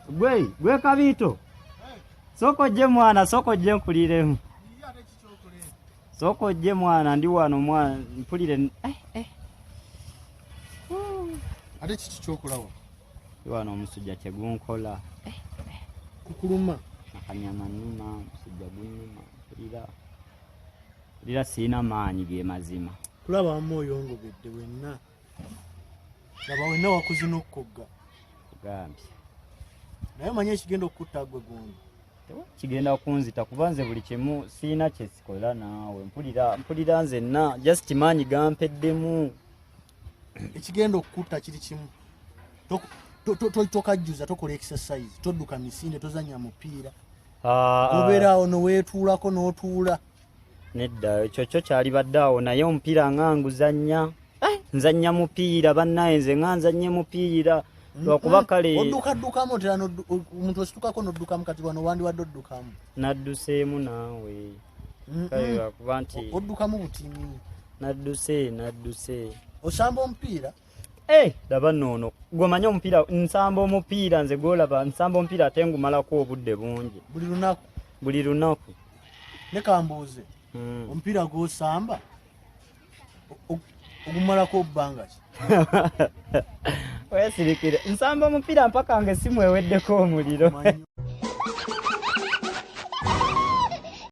Gwe, gwe kabito. Soko je mwana, soko je nkuliremu. Soko je mwana ndi wano mwana mpulire eh eh. Ate kiki kyokulawo? Ndi wano omusujja kye gunkola. Eh, eh. Kukuluma. Nakanyama numa, omusujja gunuma, mpulira. lira sirina maanyi ge mazima kulaba wamma oyongobedde wenna laba wenna wakuzina okukogga ogambye naye omanya ekigenda okukutta gwe gundi kigenda kunzita kuba nze buli kimu sirina kyesikola naawe mpulira mpulira nzenna just maanyi gampeddemu ekigenda okukutta kiri kimu tokajjuza tokola exercise todduka misinde tozanya mupiira ah, ah. obeeraawo noweetuulako n'otuula nedda ekyo kyo kyalibadde awo naye omupiira nga nguzannya eh? nzannya mupiira bannaye nze nga nzannye mupiira lwakuba mm-hmm. kale oddukaddukamu otera omuntu ositukako noddukamu kati wano wandiwadde oddukamu nadduseemu naawe mm-hmm. kale lwakuba nti oddukamu butini nadduse nadduse osamba omupiira Eh, laba noono gwemanyi omupiira nsamba omupiira nze gwolaba nsamba omupiira ate ngumalako obudde bungi buli lunaku buli lunaku nekambuuze hmm. omupiira gwosamba ogumalako obbanga ki wesirikire nsamba omupiira mpaka nga esimu eweddeko omuliro